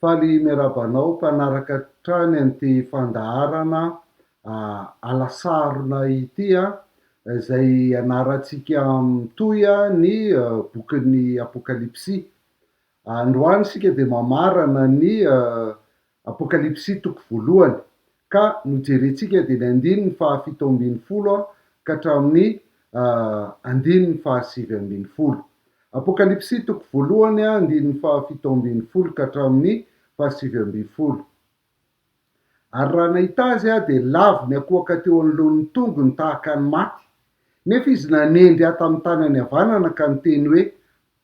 Faly miarahaba anao mpanaraka hatrany an'ity fandaharana alasarona ity izay ianarantsika mitohy ny bokin'ny Apokalypsy. Androany isika dia mamarana ny Apokalypsy toko voalohany Ka nojerentsika dia ny andininy fahafito ambin'ny folo ka hatramin'ny andininy fahasivy ambin'ny folo. Apokalypsy toko voalohany andininy fahafito ambin'ny folo ka hatramin'ny fahasivy ambin'ny folo. Ary raha nahita azy aho dia lavo niakoaka teo anoloan'ny tongony tahaka ny maty. Nefa izy nanendry ahy tamin'ny tanany havanana ka niteny hoe,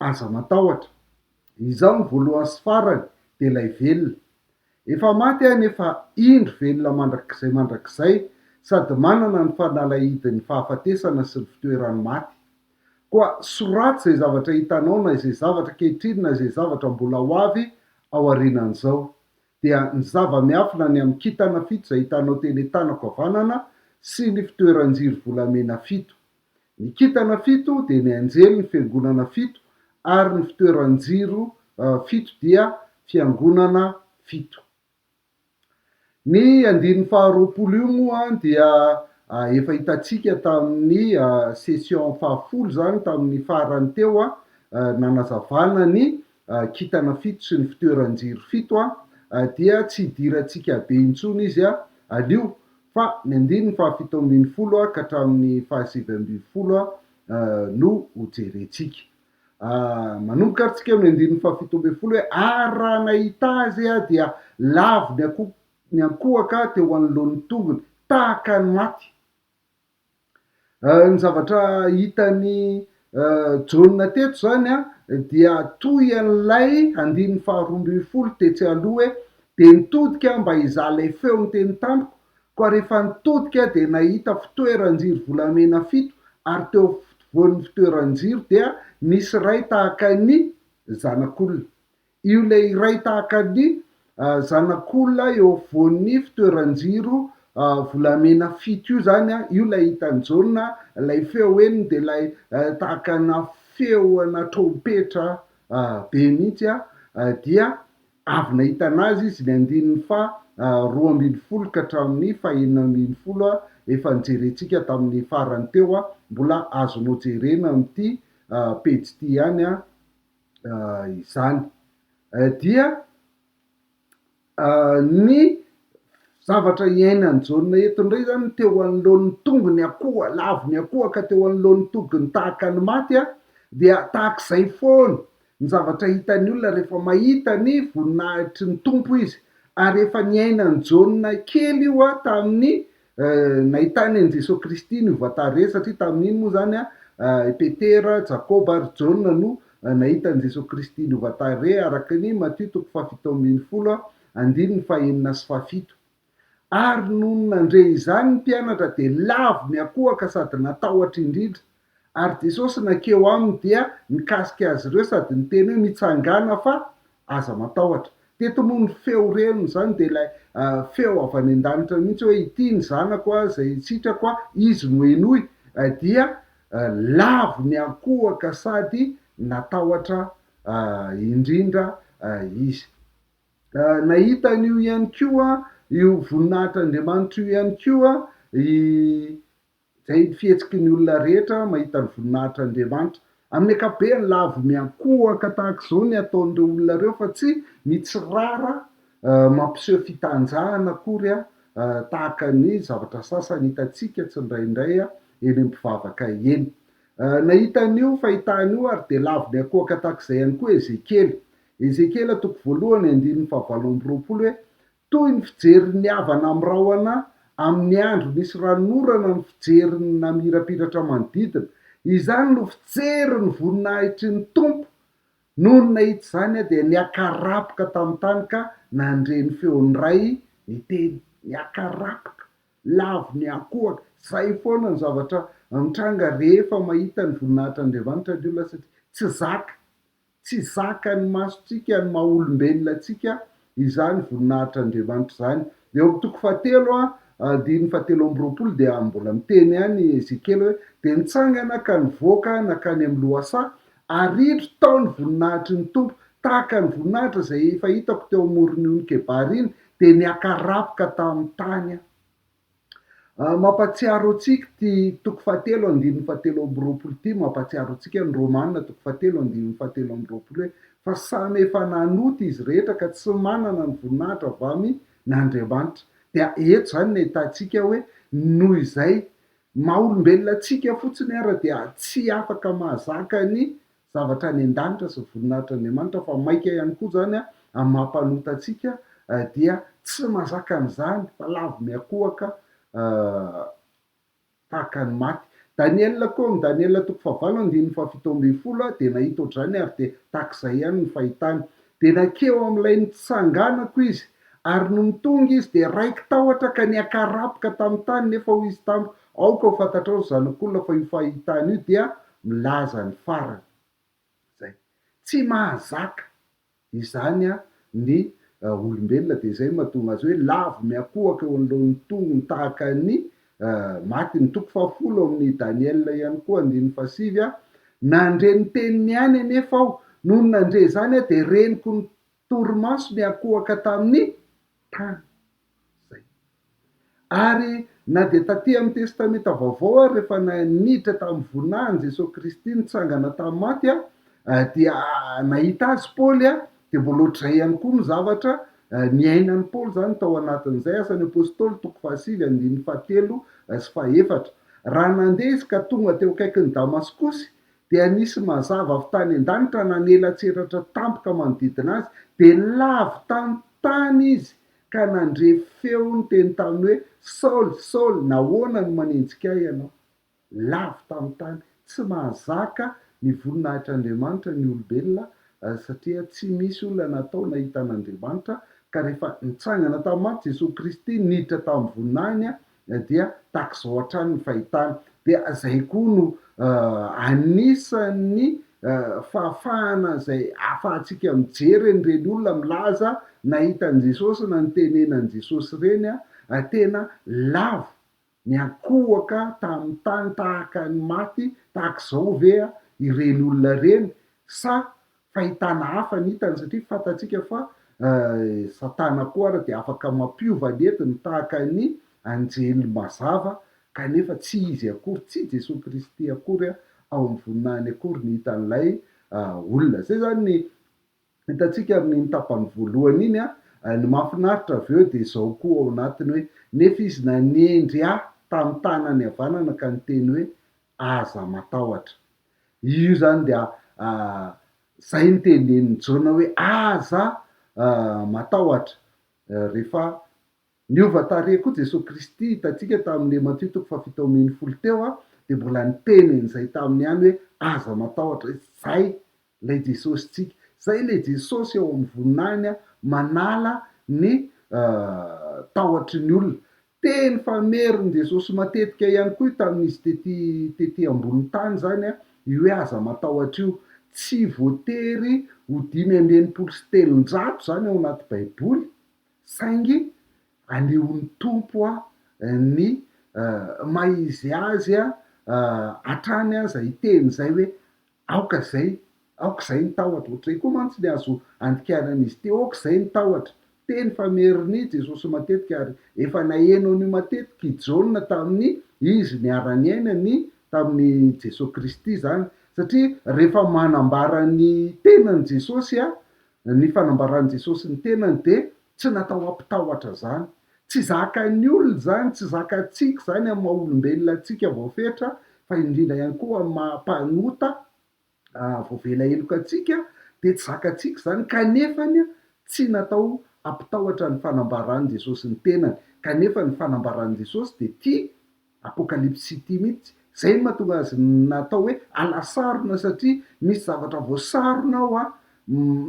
Aza matahotra. Izaho no voalohany sy farany dia ilay velona. Efa maty aho nefa indro velona mandrakizay mandrakizay sady manana ny fanalahidin'ny fahafatesana sy ny fitoeran'ny maty. Koa soraty izay zavatra hitanao na izay zavatra ankehitriny na izay zavatra mbola ho avy aorianan'izao. Dia ny zava-miafina ny amin'ny kintana fito izay hitanao teny an-tanako havanana sy ny fitoeran-jiro volamena fito. Ny kintana fito dia ny anjelin'ny fiangonana fito ary ny fitoeran-jiro fito dia fiangonana fito. Ny andininy faharoapolo io moa dia efa hitantsika tamin'ny session fahafolo izany tamin'ny farany teo nanazavana ny kintana fito sy ny fitoeran-jiro fito dia tsy hidirantsika be intsony izy anio Fa ny andininy fahafito ambin'ny folo ka hatramin'ny fahasivy ambin'ny folo no hojerentsika. Manomboka ary tsika amin'ny andininy fahafito ambin'ny folo hoe, Ary raha nahita azy aho, dia lavo ny ankohaka teo anoloan'ny tongony, tahaka ny maty. Ny zavatra hitan'i Jaona teto izany dia toy an'ilay andininy faharoa ambin'ny folo tetsy aloha hoe, Dia nitodika aho mba hizaha ilay feo niteny tamiko, koa rehefa nitodika aho dia nahita fitoeran-jiro volamena fito, ary teo afovoan'ny fitoeran-jiro dia nisy iray tahaka ny Zanak'olona. Io ilay iray tahaka ny zanak'olona eo afovoan'ny fitoeran-jiro volamena fito io izany, io ilay hitan'i Jaona, ilay feo eny dia ilay tahaka ana feo ana trompetra be mihitsy, dia avy nahita anazy izy, ny andininy faha roa ambin'ny folo ka hatramin'ny faha enina ambin'ny folo, efa nijerentsika tamin'ny farany teo, mbola azonao jerena amin'ity pejy ity ihany izany dia ny zavatra iainan'i Jaona eto indray izany teo anoloan'ny tongony akoho, lavon'ny akoho ka teo anoloan'ny tongony tahaka ny maty dia tahaka izay foana ny zavatra hitan'ny olona rehefa mahita ny voninahitry ny Tompo izy ary efa niainan'i Jaona kely io tamin'ny Nahitany an'i Jesoa Kristy ny voatary rehetra, satria tamin'iny moa izany i Petera, Jakoba ary Jaona no nahita an'i Jesoa Kristy novoatary re, araka ny Matio toko fahafito ambin'ny folo andininy fahenina sy fahafito. Ary nony nandre izany ny mpianatra dia lavo niakohaka sady natahotra indrindra. Ary Jesosy nankeo aminy dia nikasika azy ireo sady niteny hoe, Mitsangàna fa aza matahotra. Teto moa ny feo reny izany dia ilay feo avy any an-danitra mihitsy hoe, Ity ny Zanako aho izay sitrako aho, Izy no henoy. Dia lavo niankohoka sady natahotra indrindra izy. Nahita an'io ihany koa, io voninahitr'Andriamanitra io ihany koa i Izay ny fihetsiky ny olona rehetra mahita ny voninahitr'Andriamanitra. Amin'ny ankapobeny, lavo miankohoka tahaka izao ny ataon'ireo olona ireo, fa tsy mitsirara mampiseho fitanjahana akory, tahaka ny zavatra sasany hitantsika tsindraindray eny amin'ny mpivavaka eny. Nahita an'io fahitana io àry dia lavo miankohoka tahaka izay ihany koa Ezekiela. Ezekiela, toko voalohany, andininy fahavalo amby roapolo, hoe, Toy ny fijerin'ny havana amin'ny rahona amin'ny andro nisy ran'orana ny fijerin'ny namirapiratra manodidina. Izany no fijery ny voninahitry ny Tompo. Nony nahita izany aho dia niakarapoka tamin'ny tany ka nandre ny feon'ny Ray niteny. Niakarapoka, lavo niankohoka. Izay foana ny zavatra mitranga rehefa mahita ny voninahitr'Andriamanitra ny olona satria tsy zaka. Tsy zakan'ny masontsika, ny maha olombelona antsika, izany voninahitr'Andriamanitra izany. Dia eo amin'ny toko fahatelo, andininy fahatelo amby roapolo, dia mbola miteny ihany Ezekiela hoe, Dia nitsangana ka nivoaka nankany amin'ny lohasaha, ary indro tao ny voninahitry ny Tompo, tahaka ny voninahitra izay efa hitako teo amoron'ion'i Kebara iny, dia niakarapoka tamin'ny tany aho. Mampahatsiaro antsika ity toko fahatelo andininy fahatelo amby roapolo ity, mampahatsiaro antsika ny Romana toko fahatelo andininy fahatelo amby roapolo hoe, fa samy efa nanota izy rehetra ka tsy manana ny voninahitra avy amin' Andriamanitra. Dia eto izany no ahitantsika hoe, noho izay maha olombelona antsika fotsiny ara dia tsy afaka mahazaka ny zavatra any an-danitra sy ny voninahitr'Andriamanitra fa maika ihany koa izany amin'ny maha mpanota antsika dia tsy mazaka an'izany fa lavo miankohoka tahaka ny maty. Daniela koa, amin'ny Daniela toko fahavalo andininy fahafito ambin'ny folo dia nahita ohatr'izany ary dia tahaka izay ihany ny fahitany. Dia nankeo amin'ilay nitsanganako izy, ary nony tonga izy, dia raiki-tahotra ka niakarapoka tamin'ny tany, nefa hoy izy tamiko, Aoka ho fantatrao, ry zanak'olona, fa io fahitana io dia milaza ny farany. Izay. Tsy mahazaka izany ny olombelona, dia izay no mahatonga azy hoe lavo miankohoka eo anoloan'ny tongony tahaka ny Maty, ny toko fahafolo ao amin'ny Daniela ihany koa, andininy fahasivy, aho. Nandre ny teniny ihany anefa aho. Nony nandre izany aho dia reniko ny torimaso niankohoka tamin'ny tany. Izay. Ary na dia taty amin'ny Testamenta Vaovao ary rehefa niditra tamin'ny voninahin'i Jesoa Kristy nitsangana tamin'ny maty dia nahita Azy Paoly Dia vao loatrizay ihany koa ny zavatra niainan'i Paoly izany tao anatin'izay, Asan'ny Apostoly, toko fahasivy, andininy fahatelo sy fahaefatra. Raha nandeha izy ka tonga teo akaikin'i Damaskosy, dia nisy mazava avy tany an-danitra nanelatsiratra tampoka manodidina azy, dia lavo tantany izy ka nandre feo niteny taminy hoe, Saoly, Saoly, nahoana no manenjika ahy ianao? lavo tamin'ny tany. Tsy mahazaka ny voninahitr'Andriamanitra ny olombelona satria tsy misy olona natao nahita an'Andriamanitra, ka rehefa nitsangana tamin'ny maty Jesoa Kristy niditra tamin'ny voninahiny dia tahaka izao hatrany ny fahitana. Dia izay koa no anisan'ny fahafahana izay ahafahantsika mijery an'ireny olona milaza nahita an'i Jesosy na nitenena an'i Jesosy ireny, tena lavo Niankohoka tamin'ny tany tahaka ny maty tahaka izao ve ireny olona ireny? Sa fahitana hafa ny hitany? Satria fantatsika fa Satana koa àry dia afaka mampiova ny entiny tahaka ny anjely mazava, kanefa tsy izy akory, tsy Jesoa Kristy akory ao amin'ny voninahiny akory no hitan'ilay olona. Izay izany ny Hitantsika amin'iny tapany voalohany iny an, ny mahafinaritra avy eo dia izao koa ao anatiny hoe, nefa izy nanendry ahy tamin'ny tanany havanana ka niteny hoe, aza matahotra. Io izany dia izay no tenenin'i Jaona hoe, aza matahotra rehefa Niova tarehy koa Jesoa Kristy, hitantsika tamin'ny le Matio toko fahafito ambin'ny folo teo a, dia mbola niteny an'izay taminy ihany hoe aza matahotra, izay ilay Jesosintsika, izay ilay Jesosy ao amin'ny voninahiny a, manala ny tahotry ny olona. Teny famerin' Jesosy matetika ihany koa io tamin'izy tety tety ambony tany izany a, io hoe aza matahotra io. Tsy voatery ho dimy amby enimpolo sy telonjato izany ao anaty baiboly Saingy aleon'ny Tompo ny maha-izy Azy hatrany aza hiteny izay hoe, Aoka izay, aoka izay ny tahotra. Ohatr'izay koa mantsy ny azo andikaran'izy ity, Aoka izay ny tahotra. Teny fa merina i Jesosy matetika, ary efa naheno an'io matetika i Jaona tamin'ny izy niara-niaina ny tamin'i Jesoa Kristy izany. Satria rehefa manambara ny tenany Jesosy Ny fanambaran'i Jesosy ny tenany dia tsy natao hampitahotra izany. Tsy zakan'ny olona izany, tsy zakantsika izany amin'ny maha olombelona antsika voafetra, fa indrindra ihany koa amin'ny maha mpanota voavela heloka antsika dia tsy zakantsika izany, kanefa tsy natao hampitahotra ny fanambaran'i Jesosy ny tenany, kanefa ny fanambaran'i Jesosy dia tia Apocalypse City mihitsy, zay no mahatonga azy natao hoe alasarona satria misy zavatra voasarona ao an,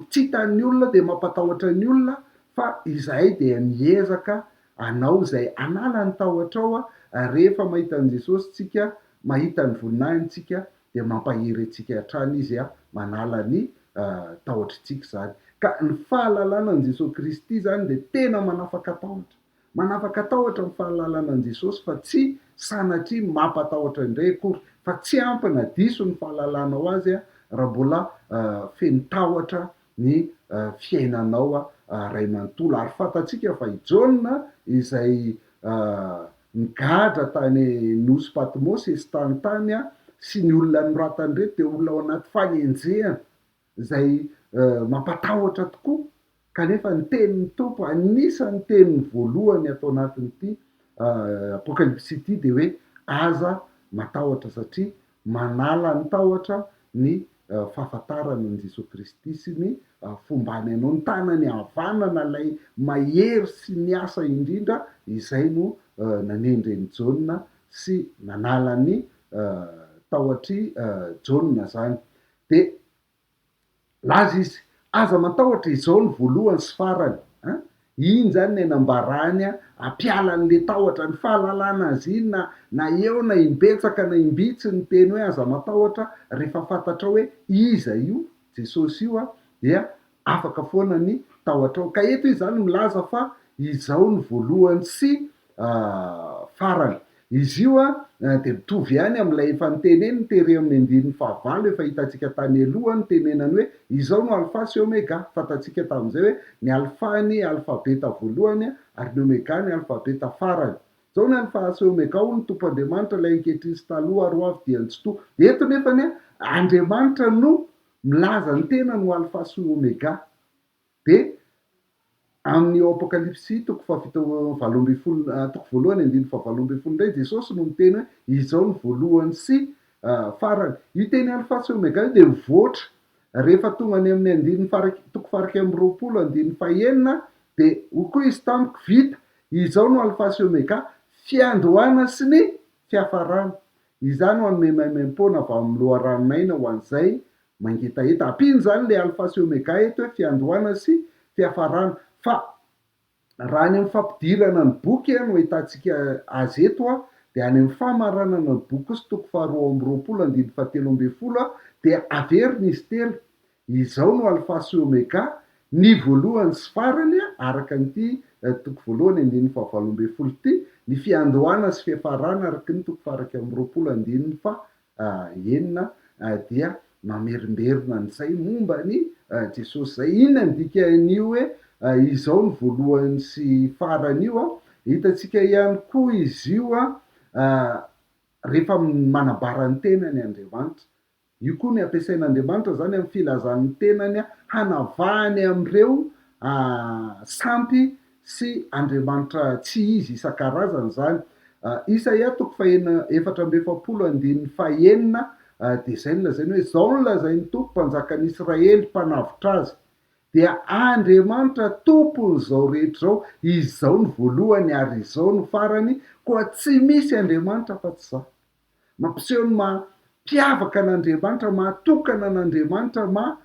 tsy hitan'ny olona dia mampatahotra ny olona fa izahay dia miezaka hanao izay hanala ny tahotra ao ary rehefa mahita an'i Jesosy tsika, mahita ny voninahiny tsika dia mampahery antsika hatrany izy an, manala ny tahotritsika izany, ka ny fahalalana an'i Jesosy Kristy izany dia tena manafaka tahotra, Manapaka tahotra ny fahalalana an'i Jesosy fa tsy sanatria mampatahotra indray akory, fa tsy ampy na diso ny fahalalanao Azy raha mbola feno tahotra ny fiainanao ray manontolo. Ary fantatsika fa i Jaona izay nigadra tany nosy Patmosy, esitany tany, sy ny olona noratany ireny dia olona ao anaty fanenjehana. izay mampatahotra tokoa, kanefa ny tenin'ny Tompo, anisan'ny teniny voalohany ato anatin'ity Apokalypsy ity dia hoe aza matahotra satria manala ny tahotra ny fahafantarana an'i Jesoa Kristy sy ny fombany anao, ny tanany havanana ilay mahery sy miasa indrindra izay no nanendre an'i Jaona sy nanala ny tahotr'i Jaona izany. Dia nilaza izy, Aza matahotra, izao no voalohany sy farany an! Iny izany ilay nambarany hampiala an'ilay tahotra, ny fahalalana azy iny na na eo na imbetsaka na imbitsy niteny hoe aza matahotra, rehefa fantatrao hoe iza io Jesosy io dia Afaka foana ny tahotrao. Ka eto izy zany milaza fa izao no voalohany sy farany. Izy io dia mitovy ihany amin'ilay efa niteny eny, tery amin'ny andininy fahavalo efa hitantsika tany aloha ny tenenany hoe, izao no Alfa sy Omega. Fantatsika tamin'izay hoe ny Alfa ny alfabeta voalohany ary ny Omega ny alfabeta farany. Izao ny Alfa sy Omega hoy ny Tompo Andriamanitra, ilay ankehitriny sy taloha ary hoavy dia ny tsy toha. Eto nefany, Andriamanitra no Milaza ny tenany ho Alfa sy Omega. Dia amin'ny ao Apokalypsy toko fahafito, valo ambin'ny folo, toko voalohany andininy fahavalo ambin'ny folo indray, Jesosy no miteny hoe, Izao no voalohany sy farany. Io teny Alfa sy Omega io dia mivoatra rehefa tonga any amin'ny andininy fahara, toko fahairaika amby roapolo andininy fahenina, dia hoy koa Izy tamiko, Vita! Izao no Alfa sy Omega, fiandohana sy ny fiafarana. Izany no hanome maimaimpoana avy amin'ny loharanon'aina ho an'izay mangetaheta. Ampiana izany ilay Alfa sy Omega eto hoe fiandohana sy fiafarana. Fa raha any amin'ny fampidirana ny boky no ahitantsika azy eto dia any amin'ny famaranana ny boky kosa toko faharoa amby roapolo andininy fahatelo ambin'ny folo dia averina izy telo. Izao no Alfa sy Omega, ny voalohany sy farany, araka an'ity toko voalohany andininy fahavalo ambin'ny folo ity, ny fiandohana sy fiafarana, araka ny toko fahairaika amby roapolo andininy faha enina, dia mamerimberina an'izay momba an'i Jesosy izay. Inona ny dikan'io hoe izao no voalohany sy farany io? Hitantsika ihany koa izy io rehefa manambara ny tenany Andriamanitra. Io koa ny ampiasain'Andriamanitra izany amin'ny filazan'ny tenany hanavahany amin'ireo sampy sy andriamanitra tsy izy isan-karazany izany. Isaia toko faheno efatra amby efapolo andininy fahenina dia izay no lazainy hoe, Izao no lazain'ny Tompo, Mpanjakan'Israely, Mpanavotra azy, dia Andriamanitra Tompon'izao rehetra izao, Izao no voalohany ary izao no farany, koa tsy misy andriamanitra afa-tsy Izaho. Mampiseho ny maha mpiavaka an'Andriamanitra, maha tokana an'Andriamanitra, maha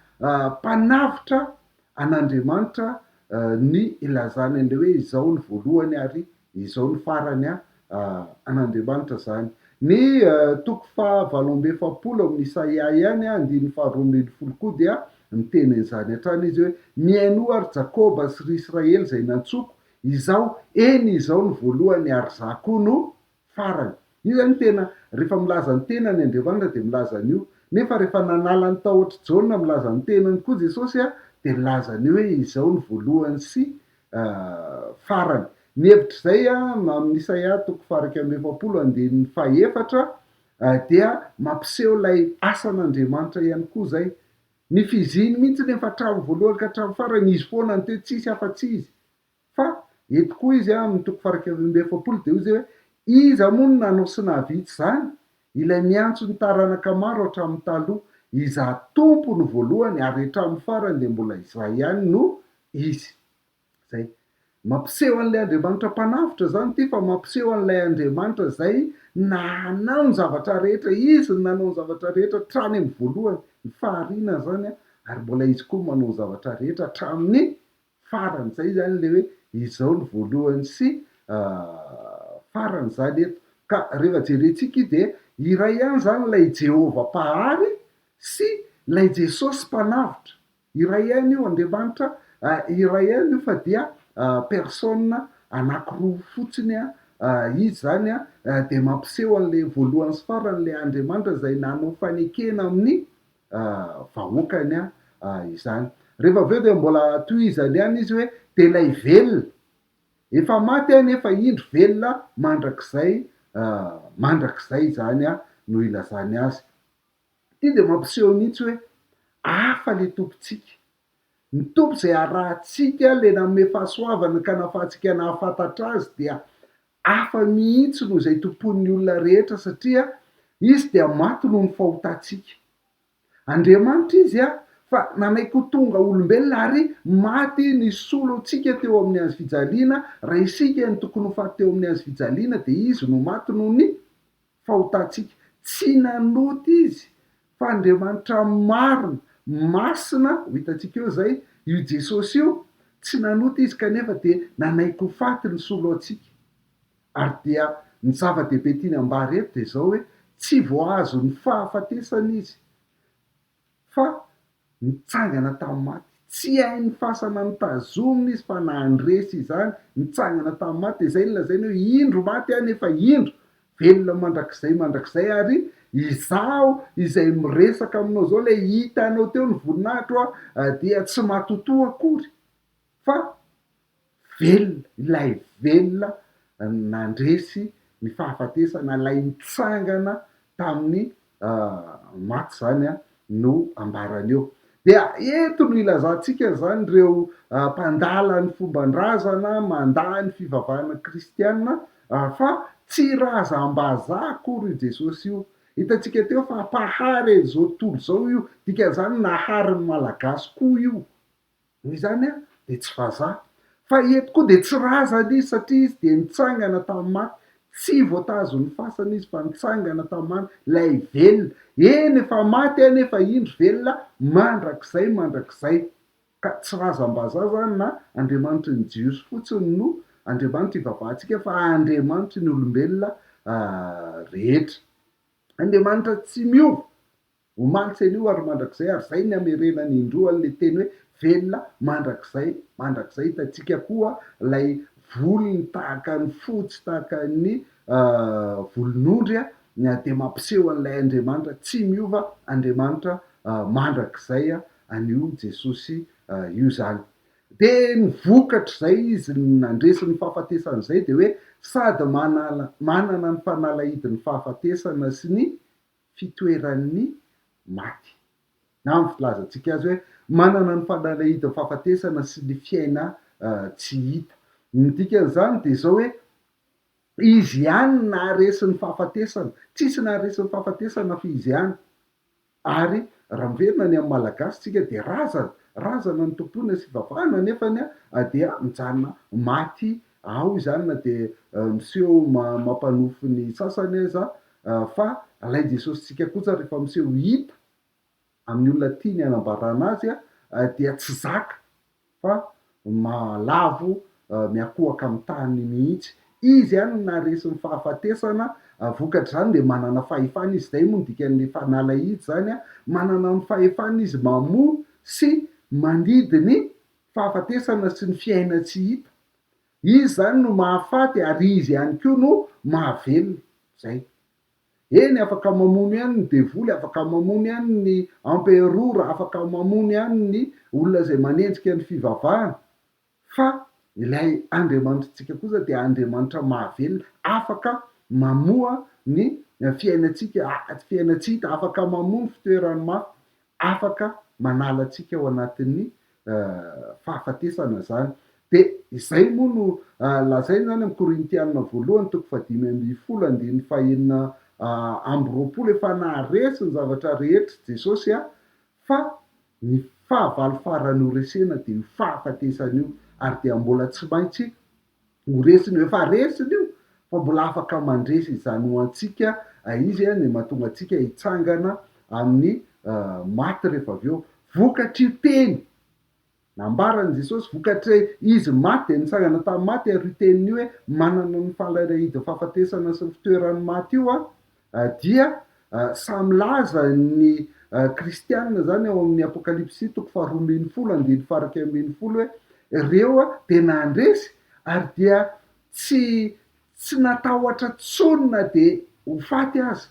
mpanavotra an'Andriamanitra ny ilazany an'ilay hoe izao ny voalohany ary izao ny farany an'Andriamanitra izany. Ny toko faha valo amby efapolo ao amin'ny Isaia ihany, andininy faha roa ambin'ny folo koa dia miteny an'izany hatrany izy hoe, Mihainoa ry Jakoba sy ry Israely izay nantsoiko, izaho, eny izaho ny voalohany ary izaho koa no farany. Io zany tena rehefa milaza ny tenany Andriamanitra dia milaza an'io. Nefa rehefa nanala ny tahotr'i Jaona milaza ny tenany koa Jesosy dia nilaza an'io hoe izao ny voalohany sy farany. Ny hevitra izay amin'ny Isaia toko fahairaika amby efapolo andininy fahefatra dia mampiseho ilay asan'Andriamanitra ihany koa izay. Ny fiziny mihitsy nefa hatramin'ny voalohany ka hatramin'ny farany izy foana no teo tsisy afa-tsy izy. Fa eto koa izy amin'ny toko faharoa amby efapolo dia hoy izay hoe, Iza moa no nanao sy nahavita izany? Ilay miantso ny taranaka maro hatramin'ny taloha. Izaho Tompo no voalohany ary hatramin'ny farany dia mbola izaho ihany no izy. Izay. Mampiseho an'ilay Andriamanitra Mpanavotra izany ity fa mampiseho an'ilay Andriamanitra izay nanao ny zavatra rehetra, izy no nanao ny zavatra rehetra hatrany amin'ny voalohany, ny fahariana izany, ary mbola izy koa no manao ny zavatra rehetra hatramin'ny faran'izay izany ilay hoe izao no voalohany sy faran'izany eto. Ka rehefa jerentsika io dia iray ihany izany ilay Jehovah Mpahary sy ilay Jesosy Mpanavotra. Iray ihany io Andriamanitra, iray ihany io fa dia personnes anankiroa fotsiny izy izany dia mampiseho an'ilay voalohany sy farany ilay Andriamanitra izay nanao fanekena amin'ny vahoakany izany. Rehefa avy eo dia mbola tohizany ihany izy hoe, dia ilay velona, efa maty aho nefa indro velona mandrakizay mandrakizay izany no ilazany azy. Ity dia mampiseho mihitsy hoe hafa ilay Tompontsika. Ny Tompo izay arahantsika, ilay nanome fahasoavana ka nahafahantsika nahafantatra Azy dia hafa mihitsy noho izay tompoin'ny olona rehetra satria Izy dia maty noho ny fahotantsika. Andriamanitra Izy fa nanaiky ho tonga olombelona ary maty nisolo antsika teo amin'ny Hazo fijaliana, raha isika no tokony ho faty teo amin'ny Hazo fijaliana dia Izy no maty noho ny fahotantsika. Tsy nanota izy fa Andriamanitra marina, masina, ho hitantsika eo izay, io Jesosy io, tsy nanota izy kanefa dia nanaiky ho faty nisolo antsika. Ary dia ny zava-dehibe tiany ambara eto dia izao hoe tsy vao azon'ny fahafatesana izy. fa nitsangana tamin'ny maty. Tsy hain'ny fasana nitazomina izy fa nandresy izany, nitsangana tamin'ny maty, dia izay no lazainy hoe, Indro maty aho, nefa indro, velona mandrakizay mandrakizay, ary izaho izay miresaka aminao izao, ilay hitanao teo ny voninahitro, dia tsy matotoa akory, fa velona, ilay velona nandresy ny fahafatesana, ilay nitsangana tamin'ny maty izany no ambarany eo. Dia eto no ilazantsika izany ireo mpandala ny fomban-drazana, mandà ny fivavahana kristiana, fa tsy razam-bazaha akory io Jesosy io. Hitantsika teo fa mpahary an'izao tontolo izao io, dikan'izany nahary ny Malagasy koa io. Noho izany dia tsy vazaha. Fa eto koa dia tsy razana izy satria izy dia nitsangana tamin'ny maty. Tsy voatazon'ny fasana izy fa nitsangana tamin'ny maty, ilay velona. Eny, efa maty anefa indry velona mandrakizay mandrakizay. Ka tsy razam-bazaha izany na Andriamanitry ny Jiosy fotsiny no Andriamanitra ivavahantsika fa Andriamanitry ny olombelona rehetra. Andriamanitra tsy miova. Omaly tsy anio ary mandrakizay ary zay ny hamerenany indroa anle teny hoe velona mandrakizay mandrakizay hitantsika koa lay volony tahaka ny fo tsy tahaka ny volon'ondry a dia mampiseho an'ilay Andriamanitra tsy miova Andriamanitra mandrakizay anio Jesosy io zany dia ny vokatr'izay izy nandresy ny fahafatesana zay dia hoe sady manana ny fanalahidin'ny fahafatesana sy ny fitoeran'ny maty. Na amin'ny filazantsika azy hoe manana ny fanalahidin'ny fahafatesana sy ny fiaina tsy hita. Ny dikan'izany dia izao hoe, Izy ihany naharesy ny fahafatesana. Tsisy naharesy ny fahafatesana fa Izy ihany. Ary raha miverina ny amin'ny Malagasy isika dia razana, razana ny tompoina sy ivavahana nefany dia mijanona maty Ao izany na dia miseho mampanofy ny sasany aza fa ilay Jesosintsika kosa rehefa miseho hita amin'ny olona tiany hanambarana Azy dia tsy zaka fa lavo miakohaka amin'ny tany mihitsy. Izy ihany no naharesy ny fahafatesana, vokatr'izany dia manana fahefana Izy, izay moa no dikan'ny fanala izy izany, manana ny fahefana Izy mamoa sy mandidy ny fahafatesana sy ny fiaina tsy hita, izy izany no mahafaty ary izy ihany koa no mahavelona, izay. Eny, afaka mamono ihany ny devoly, afaka mamono ihany ny emperora, afaka mamono ihany ny olona izay manenjika ny fivavahana, fa ilay Andriamanitrintsika kosa dia Andriamanitra mahavelona, afaka mamoha ny fiainantsika, fiaina tsy hita, afaka mamoha ny fitoeran'ny maty, afaka manala antsika ao anatin'ny fahafatesana izany. Dia izay moa no lazainy izany amin'ny Korintiana voalohany toko fahadimy ambin'ny folo andininy fahenina amby roapolo, efa naharesy ny zavatra rehetra Jesosy a! fa ny fahavalo farany horesena dia io fahafatesana io ary dia mbola tsy maintsy Ho resiny io, efa resiny io fa mbola afaka mandresy izany ho antsika izy a, ny mahatonga antsika hitsangana amin'ny maty rehefa avy eo. Vokatr'io teny nambaran'i Jesosy, vokatry Izy maty dia nitsangana tamin'ny maty ary io teniny io hoe manana ny fahalahidahidin'ny fahafatesana sy ny fitoeran'ny maty io aho, Dia sahy milaza ny kristiana izany ao amin'ny Apokalypsy toko faharoa ambin'ny folo andininy faharaika ambin'ny folo hoe, Ireo dia nandresy ary dia tsy tsy natahotra intsony na dia ho faty aza.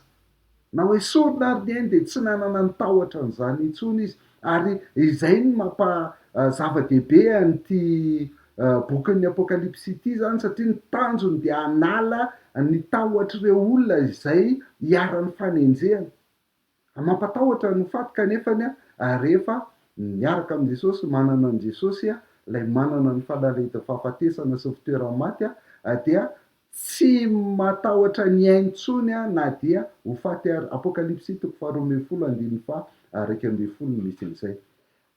Na hoe sorona ary ny ainy dia tsy nanana ny tahotra an'izany intsony izy. Ary izay no mampa zava-dehibe an'ity bokin'ny Apokalypsy ity izany, satria ny tanjony dia hanala ny tahotr'ireo olona izay iharan'ny fanenjehana. Mampatahotra ny ho faty kanefa rehefa miaraka amin'i Jesosy, manana an'i Jesosy, ilay manana ny falalahidin'ny fahafatesana sy ny fitoeran'ny maty, dia Tsy matahotra ny ainy intsony aho na dia ho faty ary. Apokalypsy toko faharoa ambin'ny folo andininy faha iraika ambin'ny folo no misy an'izay.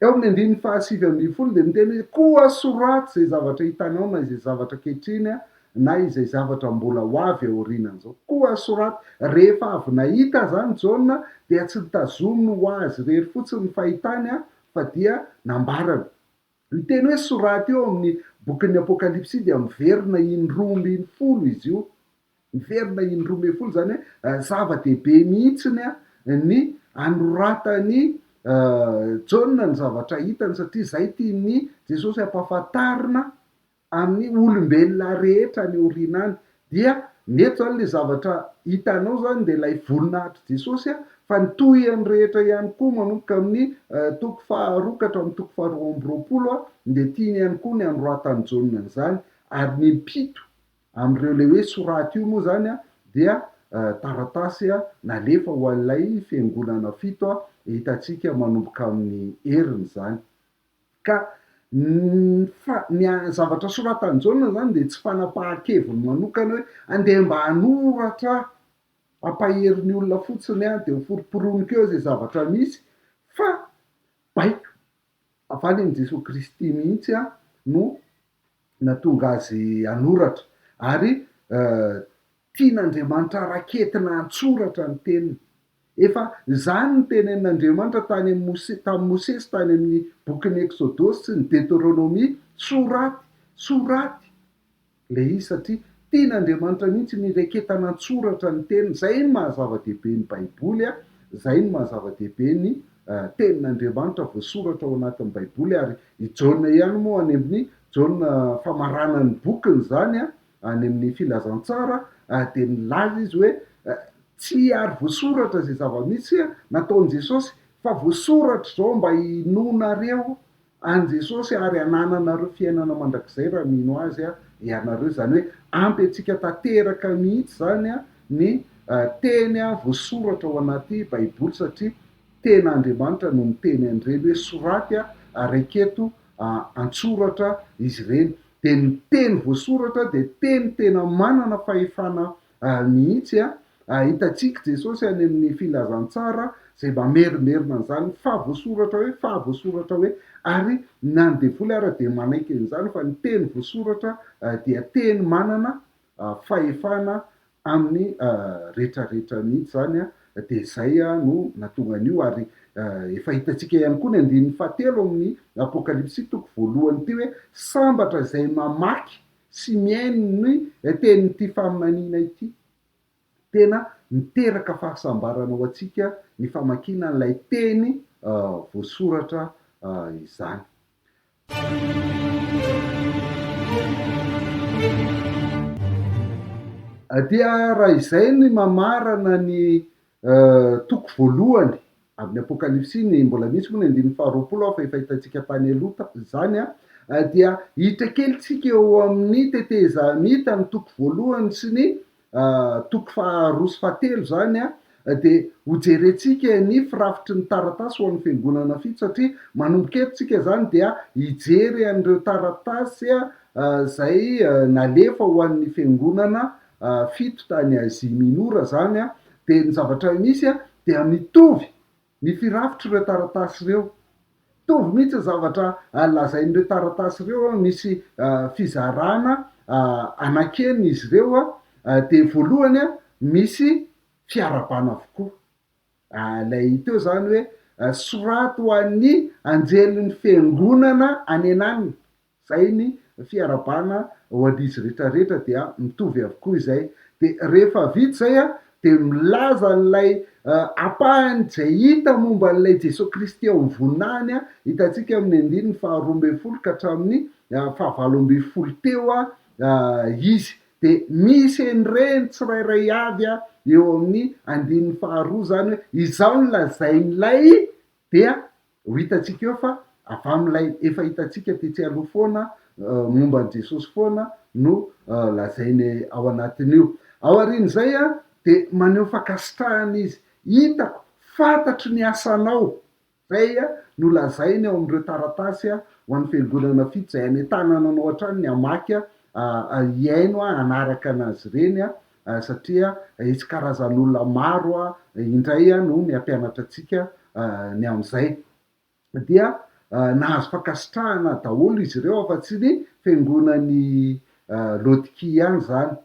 Eo amin'ny andininy fahasivy ambin'ny folo dia miteny hoe, Koa soraty izay zavatra hitanao na izay zavatra ankehitriny na izay zavatra mbola ho avy aorianan'izao. Koa soraty. Rehefa avy nahita izany Jaona dia tsy nitazominy ho azy irery fotsiny ny fahitany fa dia nambarany. Io teny hoe soraty io ao amin'ny bokin'ny Apokalypsy io dia miverina in-droa ambin'ny folo izy io. Miverina in-droa ambin'ny folo, izany hoe zava-dehibe mihitsiny ny anoratan'i Jaona ny zavatra hitany, satria izay tian'i Jesosy hampahafantarina amin'ny olombelona rehetra any aoriana any dia mety izany ilay zavatra hitanao izany dia ilay voninahitr'i Jesosy fa ny tohiny rehetra ihany koa manomboka amin'ny toko faha roa ka hatramin'ny toko faha roa amby roapolo dia tiany ihany koa ny hanoratan'i Jaona an'izany ary ny impito amin'ireo ilay hoe soraty io moa izany dia taratasy nalefa ho an'ilay fiangonana fito hitantsika manomboka amin'ny heriny izany Ka ny zavatra soratan'i Jaona izany dia tsy fanapahan-keviny manokana hoe andeha mba hanoratra aho, hampahery ny olona fotsiny aho dia hoforoporoniko eo izay zavatra misy fa baiko avy any amin'i Jesoa Kristy mihitsy aho no natonga azy hanoratra, ary tian'Andriamanitra raketina an-tsoratra ny teniny. Efa izany no tenenin'Andriamanitra tany amin'i tamin'i Mosesy tany amin'ny bokin'ny Eksodosy sy ny Deteronomia, Soraty, soraty ilay izy, satria tian'Andriamanitra mihitsy ny hiraketana an-tsoratra ny teniny. Izay no maha-zava-dehibe ny Baiboly, izay no maha-zava-dehibe ny Tenin'Andriamanitra voasoratra ao anatin'ny Baiboly ary i Jaona ihany moa any amin'ny Jaona famarana ny bokiny izany any amin'ny Filazantsara dia nilaza izy hoe tsy ary voasoratra izay zava-misy nataon'i Jesosy fa voasoratra izao mba hinoanareo An'i Jesosy ary hanananareo fiainana mandrakizay raha mino Azy ianareo. Izany hoe ampy antsika tanteraka mihitsy izany ny teny voasoratra ao anaty Baiboly satria tena Andriamanitra no miteny an'ireny hoe soraty ary aketo an-tsoratra izy ireny. Dia ny teny voasoratra dia teny tena manana fahefana Ary mihitsy a, ahitantsika Jesosy any amin'ny Filazantsara izay mamerimerina an'izany fa voasoratra hoe, fa voasoratra hoe, ary na ny devoly ara dia manaiky an'izany fa ny teny voasoratra dia teny manana fahefana amin'ny rehetra rehetra mihitsy izany a, dia izay a no nahatonga an'io, ary efa hitantsika ihany koa ny andininy fahatelo amin'ny Apokalypsy toko voalohany ity hoe, sambatra izay mamaky Tsy mihaino ny tenin'ity faminaniana ity. Tena miteraka fahasambarana ho antsika ny famakiana an'ilay teny voasoratra izany. Dia raha izay ny mamarana ny Toko voalohany amin'ny Apokalypsy ny mbola misy moa ny andininy faharoapolo fa efa hitantsika tany aloha izany dia hiditra kely tsika eo amin'ny tetezamita ny toko voalohany sy ny toko faharoa sy fahatelo izany dia ho jerentsika ny firafitry ny taratasy ho an'ny fiangonana fito satria manomboka eto tsika izany dia hijery an'ireo taratasy izay nalefa ho an'ny fiangonana fito tany Azia Minora izany dia ny zavatra misy dia mitovy ny firafitr'ireo taratasy ireo. Mitovy mihitsy ny zavatra lazain'ireo taratasy ireo, misy fizarana anankenina izy ireo, dia voalohany misy fiarabana avokoa. Ilay teo izany hoe soraty ho an'ny anjelin'ny fiangonana any an'aliny, Zay ny fiarabana ho an'izy rehetra rehetra dia mitovy avokoa izay de rehefa vita izay a de milaza an'ilay ampahany izay hita momba an'ilay Jesoa Kristy ao amin'ny voninahiny a, hitantsika amin'ny andininy faha roa ambin'ny folo ka hatramin'ny faha valo ambin'ny folo teo a izy de misy en'ireny tsirairay avy a eo amin'ny andininy faha roa izany hoe izao no lazain'ilay dia Ho hitantsika eo fa avy amin'ilay efa hitantsika tetsy aloha foana momba an'i Jesosy foana no lazainy ao anatin'io. Aorian'izay dia maneho fankasitrahana izy, Hitako, fantatro ny asanao. Izay no lazainy ao amin'ireo taratasy ho an'ny fiangonana fito izay anentanana anao hatrany ny hamaky, hihaino hanaraka an'azy ireny satria hisy karazan'olona maro indray no mihampianatra antsika ny amin'izay. Dia nahazo fankasitrahana daholo izy ireo afa-tsy ny fiangonan'i Laodikia ihany izany.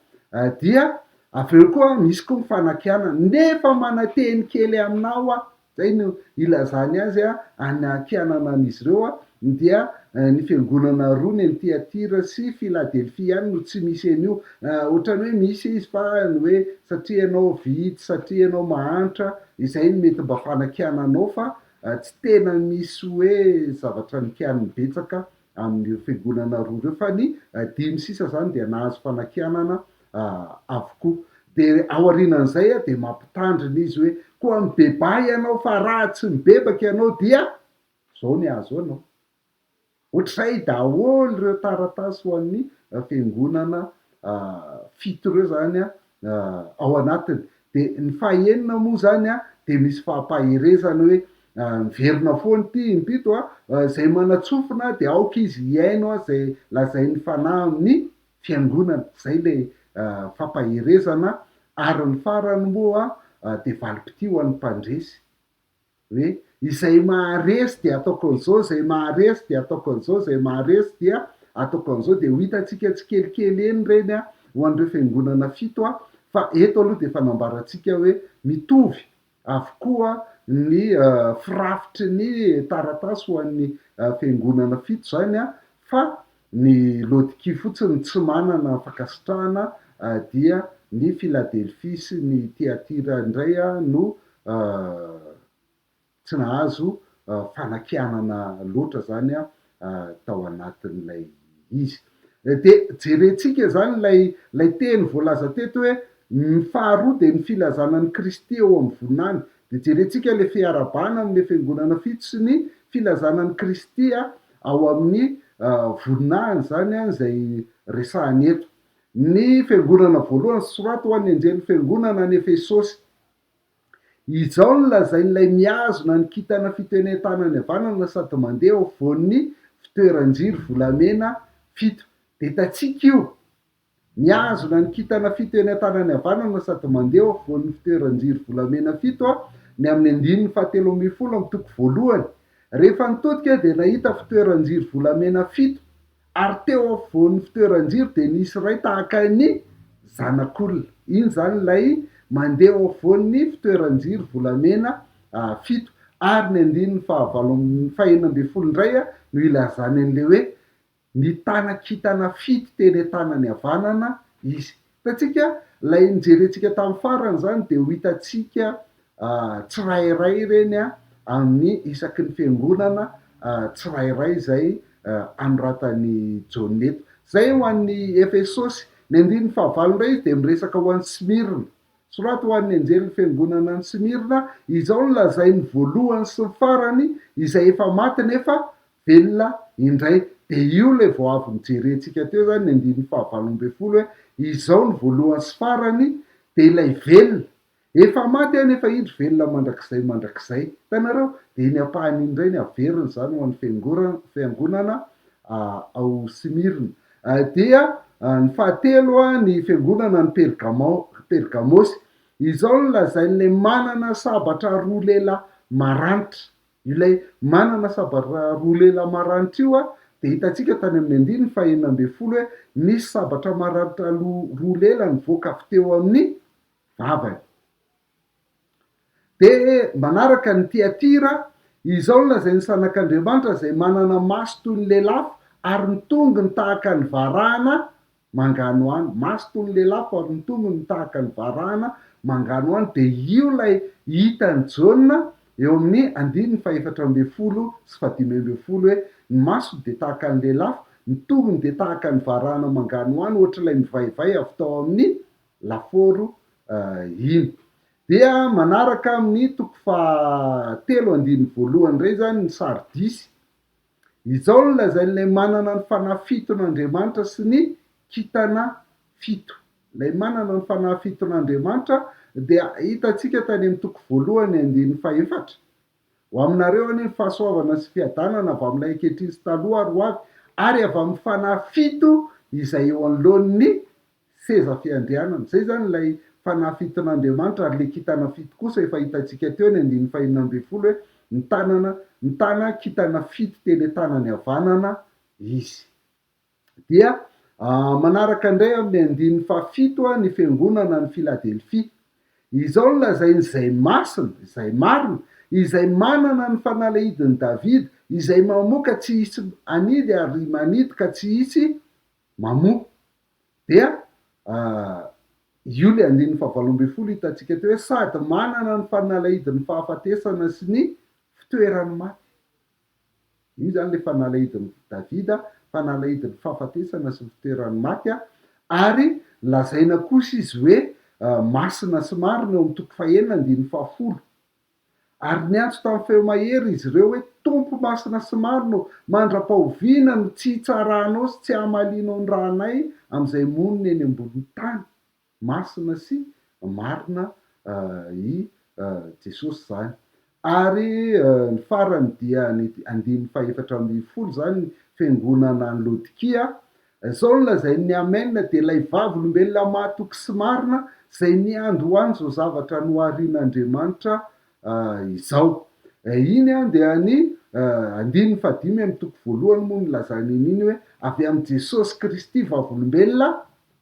Dia avy eo koa misy koa ny fanakianana, nefa mananteny kely aminao aho, Izay no ilazany azy any an-kianana an'izy ireo, dia ny fiangonana roa ny an'i Tyatira sy Filadelfia ihany no tsy misy an'io. Ohatran'ny hoe misy izy fa ny hoe satria ianao vitsy, satria ianao mahantra, izay no mety mba fanakiana anao fa tsy tena misy hoe zavatra nikianiny betsaka amin'ireo fiangonana roa ireo fa ny dimy sisa izany dia nahazo fanakianana avokoa. Dia aorianan'izay dia mampitandrina izy hoe, koa mibebaha ianao fa raha tsy mibebaka ianao dia izao ny hahazo anao. Ohatr'izay daholo ireo taratasy ho an'ny fiangonana fito ireo izany ao anatiny. Dia ny fahenina moa izany dia misy fampaherezana hoe, miverina foana ity impito a, izay manatsofina dia aoka izy hihaino izay lazain'ny Fanahy amin'ny fiangonana, izay ilay fampaherezana ary ny farany moa dia valim-pitia ho an'ny mpandresy hoe izay maharesy dia ataoko an'izao, izay maharesy dia ataoko an'izao, izay maharesy dia ataoko an'izao, dia ho hitantsika tsikelikely eny ireny ho an'ireo fiangonana fito fa eto aloha dia efa nambarantsika hoe mitovy avokoa ny firafitry ny taratasy ho an'ny fiangonana fito izany fa ny Laodikia fotsiny no tsy manana fankasitrahana dia ny Filadelfia sy ny Tiatira indray no tsy nahazo fanakianana loatra izany tao anatin'ilay izy. Dia jerentsika izany ilay ilay teny voalaza teto hoe ny faharoa dia ny filazana an'i Kristy eo amin'ny voninahiny. Dia jerentsika ilay fiarahabana amin'ilay fiangonana fito sy ny filazana an'i Kristy ao amin'ny voninahiny, izany izay resahany eto. Ny fiangonana voalohany, Soraty ho an'ny anjelin'ny fiangonana any Efesosy. Izao no lazain'ilay mihazona ny kintana fito eny an-tanany havanana sady mandeha eo afovoan'ny fitoeran-jiro volamena fito, Betatsika io! Mihazona ny kintana fito eny an-tanany havanana sady mandeha eo afovoan'ny fitoeran-jiro volamena fito aho ny amin'ny andininy fahatelo ambin'ny folo amin'ny toko voalohany. Rehefa nitodika aho dia nahita fitoeran-jiro volamena fito. Ary teo afovoan'ny fitoeran-jiro dia nisy iray tahaka ny Zanak'olona. Iny izany ilay mandeha eo afovoan'ny fitoeran-jiro volamena fito. Ary ny andininy fahavalo amby, fahenina ambin'ny folo indray no ilazany an'ilay hoe, Nitana kintana fito teny an-tanany havanana Izy. Hitantsika, ilay nojerentsika tamin'ny farany izany dia ho hitantsika tsirairay ireny amin'ny isaky ny fiangonana tsirairay izay anoratan'i Jaona eto. Izay ho an'ny Efesosy. Ny andininy fahavalo indray izy dia miresaka ho an'i Smirna. Soraty ho an'ny anjelin'ny fiangonana any Smirna, Izao no lazain'ny voalohany sy ny farany, izay efa maty nefa Velona indray dia io ilay vao avy nojerentsika teo izany ny andininy fahavalo ambin'ny folo hoe izao ny voalohany sy farany dia ilay velona efa maty anefa indry velona mandrakizay mandrakizay hitanareo dia iny ampahany iny indray ny haverina izany ho an'ny fiangoran fiangonana ao Smyrne dia ny fahatelo ny fiangonana any Pergamao Pergamosy izao no lazain'ilay manana sabatra roa lehilahy maranitra Ilay manana sabatra roa lela maranitra io dia hitantsika tany amin'ny andininy fahenina ambin'ny folo hoe nisy sabatra maranitra aloha roa lela nivoaka avy teo amin'ny vavany. Dia manaraka ny Tiatira, Izao no lazain'ny zanak'Andriamanitra izay manana maso toy ny lelafo ary ny tongony tahaka ny varahana manganohano, maso toy ny lehilahy fa ny tongony tahaka ny varahana, manganohano, dia io ilay hitan'i Jaona eo amin'ny andininy fahefatra ambin'ny folo sy fahadimy ambin'ny folo hoe, Ny masony dia tahaka ny lelafo, ny tongony dia tahaka ny varahana manganohano, ohatr'ilay mivaivay avy tao amin'ny lafaoro iny. Dia manaraka amin'ny toko fahatelo andininy voalohany indray izany ny Sardisy, Izao no lazain' ilay manana ny fanahy fiton' Andriamanitra sy ny kintana fito. Ilay manana ny fanahy fiton' Andriamanitra dia hitantsika tany amin'ny toko voalohany andininy fahefatra, Ho aminareo anie ny fahasoavana sy fiadanana avy amin'ilay ankehitriny sy taloha ary ho avy, ary avy amin'ny fanahy fito izay eo anoloan'ny seza fiandrianana. Izay izany ilay fanahy fiton'Andriamanitra, ary ilay kintana fito kosa efa hitantsika teo eny andininy fahenina ambin'ny folo hoe mitanana, mitana kintana fito teny an-tanany havanana izy. Dia manaraka indray amin'ny andininy fahafito ny fiangonana any Filadelfia. Izao no lazainy, Izay masina, izay marina, izay manana ny fanalahidin'i Davida, izay mamoa ka tsy hisy hanidy ary manidy ka tsy hisy mamoa. Dia io ilay andininy fahavalo ambin'ny folo hitantsika teo hoe sady manana ny fanalahidin'ny fahafatesana sy ny fitoeran'ny maty. Io izany ilay fanalahidin'i Davida, fanalahidin'ny fahafatesana sy ny fitoeran'ny maty ary lazaina kosa izy hoe masina sy marina eo amin'ny toko fahenina andininy fahafolo. Ary niantso tamin'ny feo mahery izy ireo hoe, Tompo masina sy marina ô, mandra-pahoviana no tsy hitsarahanao sy tsy hamalianao ny ranay amin'izay monina eny ambonin'ny tany? Masina sy marina i Jesosy izany. Ary ny farany dia ny andininy fahefatra ambin'ny folo izany, ny fiangonana any Laodikia, Izao no lazain'ny Amen dia ilay Vavolombelona mahatoky sy marina izay niandohany izao zavatra noharin'Andriamanitra izao. Iny dia ny andininy fahadimy amin'ny toko voalohany moa no nilazany an'iny hoe avy amin'i Jesosy Kristy Vavolombelona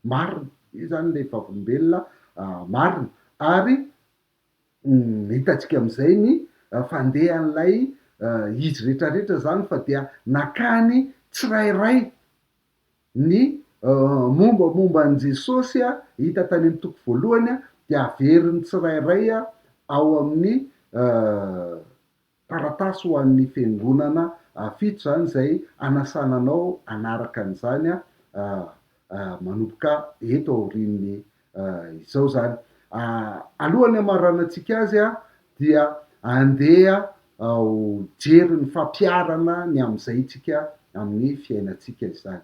marina. Io izany ilay Vavolombelona marina. Ary Hitantsika amin'izay ny fandehan'ilay izy rehetrarehetra izany fa dia nakany tsirairay ny mombamomba an'i Jesosy hita tany amin'ny toko voalohany dia averin'ny tsirairay ao amin'ny Taratasy ho an'ny fiangonana vitsy izany izay anasana anao hanaraka an'izany manomboka eto aorian'ny izao izany. Alohan'ny hamaranantsika azy dia andeha ho jery ny fampiharana ny amin'izay tsika amin'ny fiainantsika izany.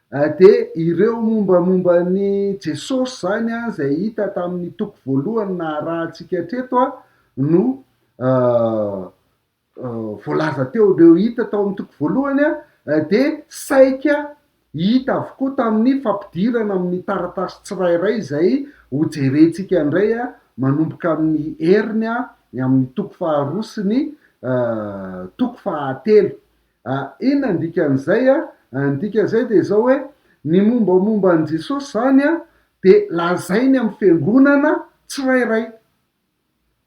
Dia ireo mombamomba an'i Jesosy izany izay hita tamin'ny toko voalohany naharahantsika hatreto no voalaza teo. Ireo hita tao amin'ny toko voalohany dia saika hita avokoa tamin'ny fampidirana amin'ny taratasy tsirairay izay hojerentsika indray manomboka amin'ny heriny amin'ny toko faharoa sy ny toko fahatelo. A, Inona ny dikan'izay? A, Ny dikan'izay dia izao hoe, ny mombamomba an'i Jesosy izany dia lazainy amin'ny fiangonana tsirairay.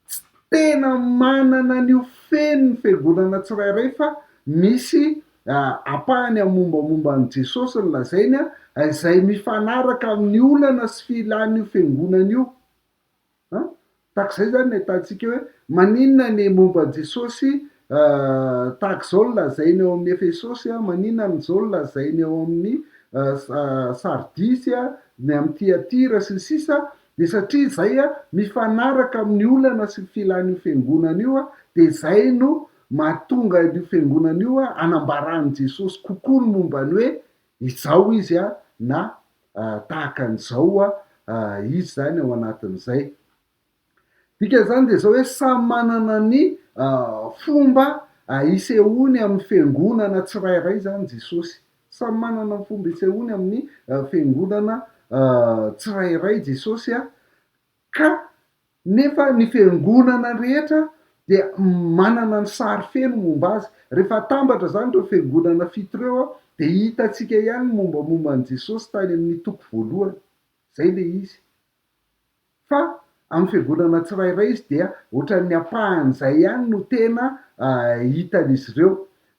Tsy tena manana an'io feno ny fiangonana tsirairay fa misy a, ampahany amin'ny mombamomba an'i Jesosy ny lazainy a, izay mifanaraka amin'ny olana sy filan'io fiangonana io. An? Tahaka izay izany ny ahitantsika hoe maninona ny momba an'i Jesosy tahaka izao no lazainy ao amin'ny Efesosy, maninona amin'izao no lazainy ao amin'ny Sardisy, ny amin'i Tyatira sy ny sisa dia satria izay mifanaraka amin'ny olana sy ny filan'io fiangonana io dia izay no mahatonga an'io fiangonana io hanambara an'i Jesosy kokoa ny momba ny hoe izao izy a, na tahaka an'izao a, izy zany ao anatin'izay. Dikan'izany dia izao hoe samy manana ny fomba isehoany amin'ny fiangonana tsirairay zany Jesosy, samy manana ny fomba isehoany amin'ny fiangonana tsirairay Jesosy a, ka. Nefa ny fiangonana rehetra dia manana ny sary feno momba azy. Rehefa atambatra izany ireo fiangonana fito ireo dia hitantsika ihany ny mombamomba an'i Jesosy tany amin'ny toko voalohany. Izay ilay izy. Fa amin'ny fiangonana tsirairay izy dia ohatran'ny ampahan'izay ihany no tena hitan'izy ireo.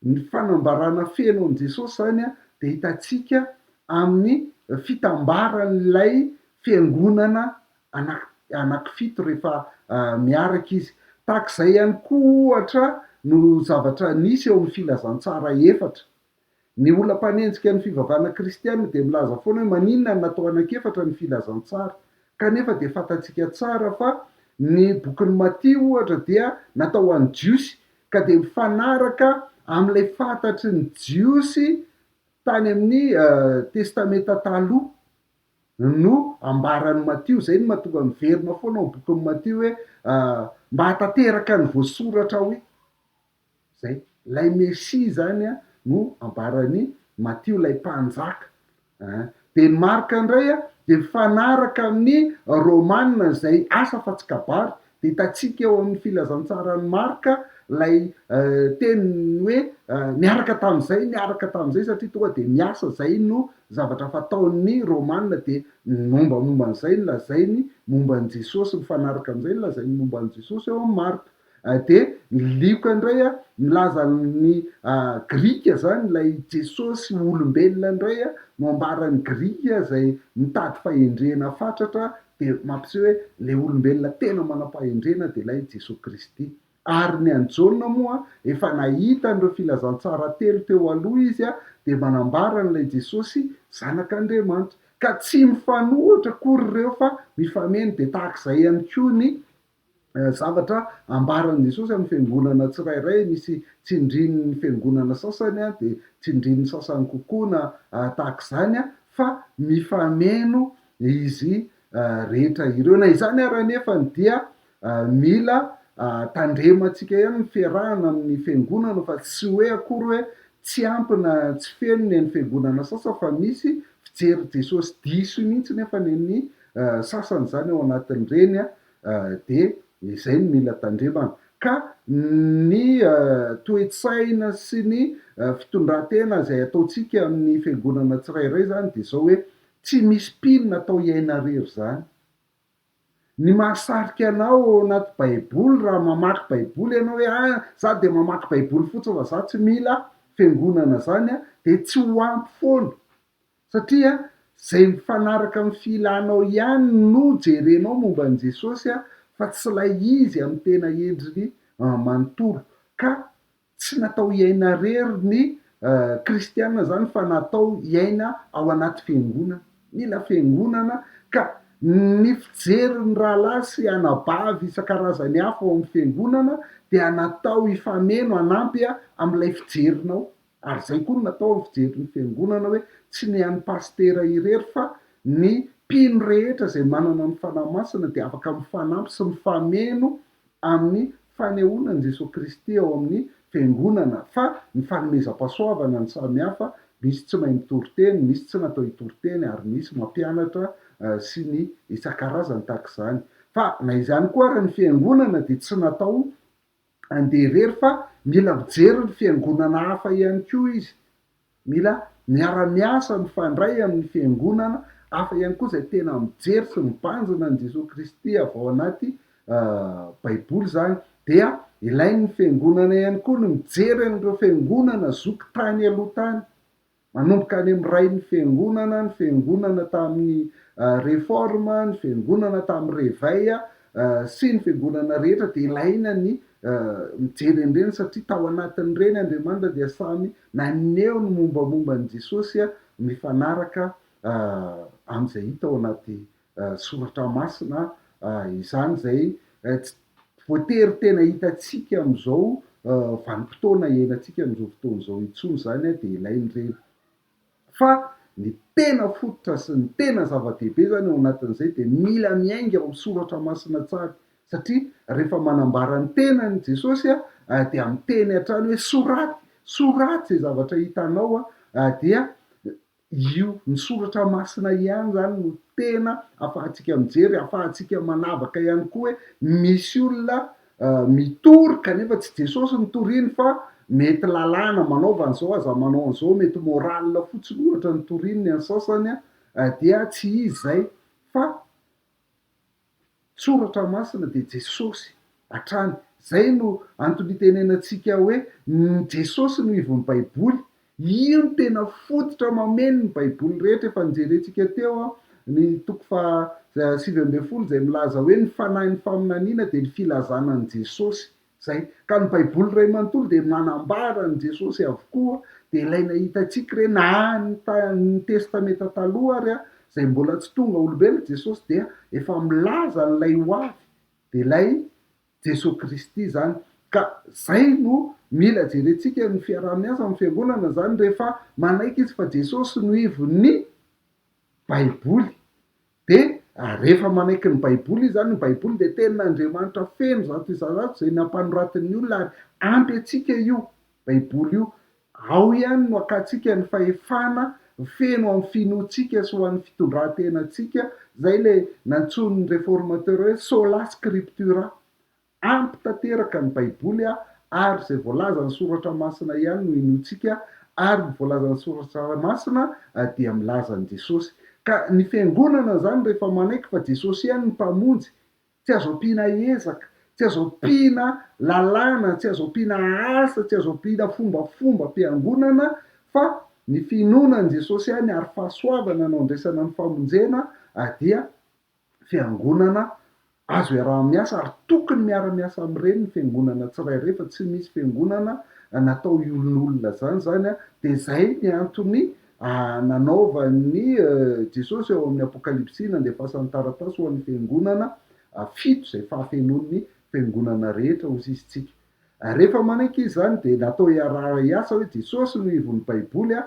Ny fanambarana feno an'i Jesosy izany dia hitantsika amin'ny fitambaran'ilay fiangonana anaky anakifito rehefa miaraka izy. Tahaka izay ihany koa ohatra no zavatra nisy eo amin'ny Filazantsara efatra. Ny olona mpanenjika ny fivavahana kristiana dia milaza foana hoe maninona no natao anak'efatra ny Filazantsara? Kanefa dia fantatsika tsara fa ny bokin'i Matia ohatra dia natao ho an'ny Jiosy ka dia mifanaraka amin'ilay fantatry ny Jiosy tany amin'ny Testamenta Taloha. No ambaran'i Matio. Izay no mahatonga miverina foana ao bokin'i Matio hoe mba hahatanteraka ny voasoratra ao io. Izay. Ilay Mesia izany no ambaran'i Matio, ilay Mpanjaka. An! Dia ny Marka indray dia mifanaraka amin'ny Romana izay asa fa tsy kabary, Hitantsika eo amin'ny filazantsaran'i Marka ilay teniny hoe niaraka tamin'izay, niaraka tamin'izay, satria tonga dia miasa, izay no zavatra fataon'ny Romana, dia ny mombamomba an'izay no lazainy momba an'i Jesosy, mifanaraka amin'izay no lazainy momba an'i Jesosy eo amin'ny Marka. Dia ny Lioka indray, milaza ny Grika izany, ilay Jesosy ho olombelona indray no ambaran'ny Grika izay mitady fahendrena fatratra dia mampiseho hoe ilay olombelona tena manam-pahendrena dia ilay Jesoa Kristy. Ary ny an'i Jaona moa, efa nahita an'ireo filazantsara telo teo aloha izy, dia manambara an'ilay Jesosy Zanak'Andriamanitra. Ka tsy mifanohitra akory ireo fa mifameno. Dia tahaka izay ihany koa ny zavatra ambaran'i Jesosy amin'ny fiangonana tsirairay, misy tsindrin'ny fiangonana sasany dia tsindrin'ny sasany kokoa na tahaka izany fa mifameno izy rehetra ireo. Na izany ary anefa dia mila tandremantsika ihany ny fiarahana amin'ny fiangonana fa tsy hoe akory hoe tsy ampy na tsy feno ny an'ny fiangonana sasany fa misy fijery Jesosy diso mihitsy nefany an'ny sasany izany ao anatin'ireny an! Dia izay no mila tandremana. Ka ny toe-tsaina sy ny fitondran-tena izay ataontsika amin'ny fiangonana tsirairay izany dia izao hoe, tsy misy mpino natao hiaina irery izany. Ny mahasarika anao ao anaty Baiboly raha mamaky Baiboly ianao hoe, ah, izaho dia mamaky Baiboly fotsiny fa izaho tsy mila fiangonana izany, dia tsy ho ampy foana. Satria izay mifanaraka amin'ny filanao ihany no jerenao momba an'i Jesosy fa tsy ilay izy amin'ny tena endriny manontolo. Ka tsy natao hiaina irery ny kristiana izany fa natao hiaina ao anaty fiangonana. Mila fiangonana ka ny fijerin'ny rahalahy sy anabavy isan-karazany hafa ao amin'ny fiangonana dia natao hifameno hanampy amin'ilay fijerinao. Ary izay koa no natao ny fijery ny fiangonana hoe tsy ny an'ny pasitera irery fa ny mpino rehetra izay manana ny Fanahy Masina dia afaka mifanampy sy mifameno amin'ny fanehoana an'i Jesoa Kristy ao amin'ny fiangonana fa ny fanomezam-pahasoavana no samy hafa, misy tsy mahay mitory teny, misy tsy natao hitory teny ary misy mampianatra sy ny isan-karazany tahaka izany. Fa na izany koa ary ny fiangonana dia tsy natao Andeha irery fa mila mijery ny fiangonana hafa ihany koa izy. Mila miara-miasa mifandray amin'ny fiangonana hafa ihany koa izay tena mijery sy mibanjina an'i Jesoa Kristy avy ao anaty Baiboly izany. Dia ilain'ny fiangonana ihany koa ny mijery an'ireo fiangonana zoky tany aloha tany. Manomboka any amin'ny rain'ny Fiangonana, ny Fiangonana tamin'ny Réforme, ny Fiangonana tamin'ny Réveil sy ny Fiangonana rehetra dia ilaina ny mijery an'ireny satria tao anatin'ireny Andriamanitra dia samy naneho ny mombamomba an'i Jesosy mifanaraka amin'izay hita ao anaty Soratra Masina izany izay tsy voatery tena hitantsika amin'izao vanim-potoana iainantsika amin'izao fotoana izao intsony izany dia ilain'ireny. Fa ny tena fototra sy ny tena zava-dehibe izany ao anatin'izay dia mila miainga ao amin'ny Soratra Masina tsara satria rehefa manambara ny tenany Jesosy dia miteny hatrany hoe soraty, soraty izay zavatra hitanao dia Io, ny soratra masina ihany izany no tena afahantsika mijery, afahantsika manavaka ihany koa hoe misy olona mitory kanefa tsy Jesosy no toriany fa mety lalàna, manaova an'izao aza manao an'izao, mety morale fotsiny ohatra no toriany ny an'ny sasany dia tsy izy izay fa Soratra masina dia Jesosy hatrany. Izay no antony itenenantsika hoe ny Jesosy no ivon'ny Baiboly. Io no tena fototra mameno ny Baiboly rehetra. Efa nojerentsika teo ny toko faha sivy ambin'ny folo izay milaza hoe ny fanahin'ny faminaniana dia ny filazana an'i Jesosy. Izay. Ka ny baiboly iray manontolo dia manambara an'i Jesosy avokoa, dia ilaina hitantsika ireny na ny ta, ny testamenta taloha ary a, izay mbola tsy tonga olombelona Jesosy dia efa milaza an'ilay ho avy, dia ilay Jesoa Kristy izany. Ka izay no mila jerentsika ny fiaraha-miasa amin'ny fiangonana izany rehefa manaiky izy fa Jesosy no ivon'ny baiboly. Dia rehefa manaiky ny Baiboly izy, izany ny Baiboly dia Tenin'Andriamanitra feno zato isan-jato izay nampanoratin'ny olona ary ampy antsika io Baiboly io. Ao ihany no akantsika ny fahefana feno amin'ny finoantsika sy ho an'ny fitondran-tenantsika, izay ilay nantsoin'ny Reformateurs hoe Sola Scriptura, Ampy tanteraka ny Baiboly ary izay voalazan'ny Soratra Masina ihany no inoantsika ary ny voalazan'ny Soratra Masina dia milaza an'i Jesosy. Ka ny Fiangonana izany rehefa manaiky fa Jesosy ihany no Mpamonjy, tsy azo ampiana ezaka, tsy azo ampiana lalàna, tsy azo ampiana asa, tsy azo ampiana fombafombam-piangonana fa ny finoana an'i Jesosy ihany ary fahasoavana no andraisana ny famonjena dia fiangonana azo iaraha-miasa ary tokony miara-miasa amin'ireny ny fiangonana tsirairay fa tsy misy fiangonana natao iolonolona izany izany dia izay ny antony nanaovan'i Jesosy ao amin'ny Apokalypsy nandefasany taratasy ho an'ny fiangonana fito izay fahafenoan'ny fiangonana rehetra hosisintsika Rehefa manaiky izy izany dia natao hiaraha-hiasa hoe Jesosy no ivon'ny Baiboly a,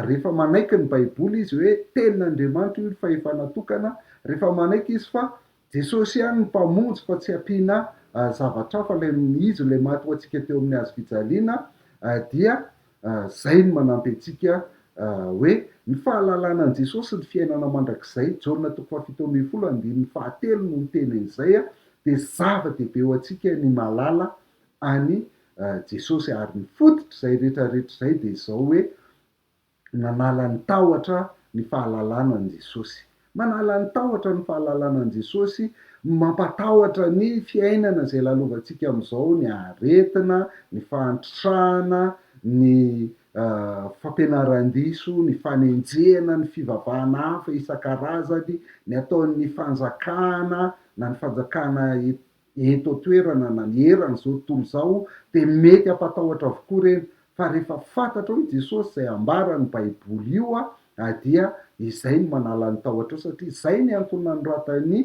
rehefa manaiky ny Baiboly izy hoe Tenin'Andriamanitra io ny fahefana tokana, rehefa manaiky izy fa Jesosy ihany no Mpamonjy fa tsy ampiana zavatra hafa ilay izy ilay maty ho antsika teo amin'ny hazo fijaliana dia Izay no manampy antsika hoe ny fahalalana an'i Jesosy sy ny fiainana mandrakizay, Jaona toko fahafito ambin'ny folo andininy fahatelo no miteny an'izay, dia zava-dehibe ho antsika ny mahalala an'i Jesosy. Ary ny fototr'izay rehetrarehetra izay dia izao hoe, nanala ny tahotra ny fahalalana an'i Jesosy. Manala ny tahotra ny fahalalana an'i Jesosy, mampatahotra ny fiainana izay lalovantsika amin'izao, ny aretina, ny fahantrana, ny fampianaran-diso, ny fanenjehana, ny fivavahana hafa isan-karazany, ny ataon'ny fanjakana na ny fanjakana eto an-toerana na ny eran'izao tontolo izao dia mety hampatahotra avokoa ireny fa rehefa fantatrao i Jesosy izay ambaran'ny baiboly io ah dia izay no manala ny tahotrao satria izay ny antony nanoratan'i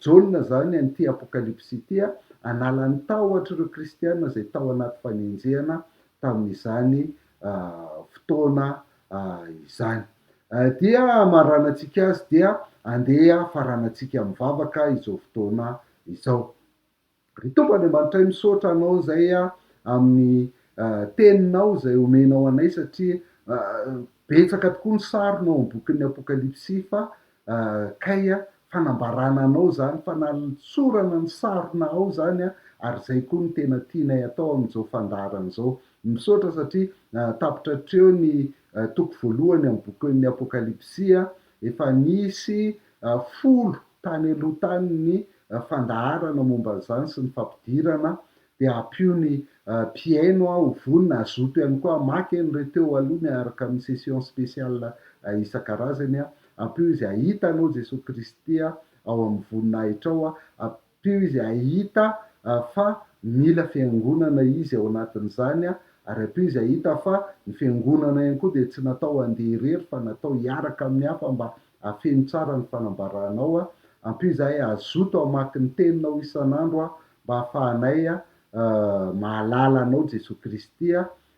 Jaona izany an'ity apokalypsy ity ah, hanala ny tahotr'ireo kristiana izay tao anaty fanenjehana tamin'izany fotoana izany. Dia hamaranantsika azy dia andeha hafaranantsika mivavaka izao fotoana izao. Ry Tompo Andriamanitray, misaotra Anao izay amin'ny Teninao izay omenao anay satria betsaka tokoa ny sarona ao amin'ny bokin'ny Apokalypsy fa Kay a, fanambarana anao izany, fanalintsorana ny sarona ao izany a, ary izay koa no tena tianay atao amin'izao fandaharana izao. Misaotra satria tapitra hatreo ny toko voalohany amin'ny bokin'ny Apokalypsy a, efa nisy folo tany aloha tany ny fandaharana momba an'izany sy ny fampidirana dia ampio ny mpihaino ho vonona hazoto ihany koa hamaky eny re teo aloha miaraka amin'ny session spéciale isan-karazany, ampio izy hahita anao Jesoa Kristy ao amin'ny voninahitrao, ampio izy hahita fa mila fiangonana izy ao anatin'izany ary ampio izy hahita fa ny fiangonana ihany koa dia tsy natao handeha irery fa natao hiaraka amin'ny hafa mba hahafeno tsara ny fanambaranao, ampio izahay hazoto hamaky ny teninao isan'andro Mba hahafahanay mahalala Anao Jesoa Kristy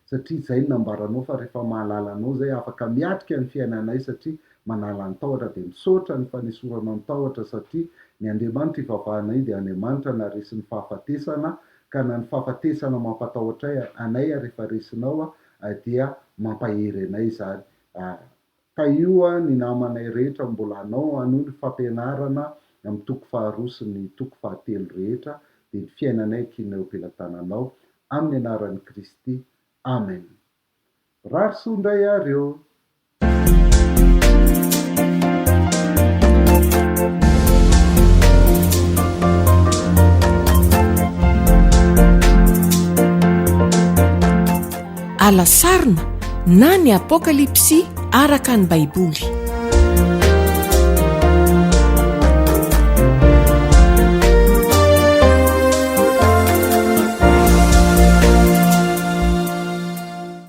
satria izay no nambaranao fa rehefa mahalala Anao izay afaka miatrika ny fiainanay satria manala ny tahotra dia misaotra ny fanesoranao ny tahotra satria ny Andriamanitra ivavahanay dia Andriamanitra naresin'ny fahafatesana ka na ny fahafatesana mampatahotra anay rehefa resinao dia mampahery anay izany Tahio an ny namanay rehetra mbola anao hanohy ny fampianarana amin'ny toko faharoa sy ny toko fahatelo rehetra dia ny fiainanay ekinay eo pelatananao amin'ny anaran'i Kristy Amen Mirary soa indray ary eo. Ala sarona na ny Apokalypsy araka ny Baiboly.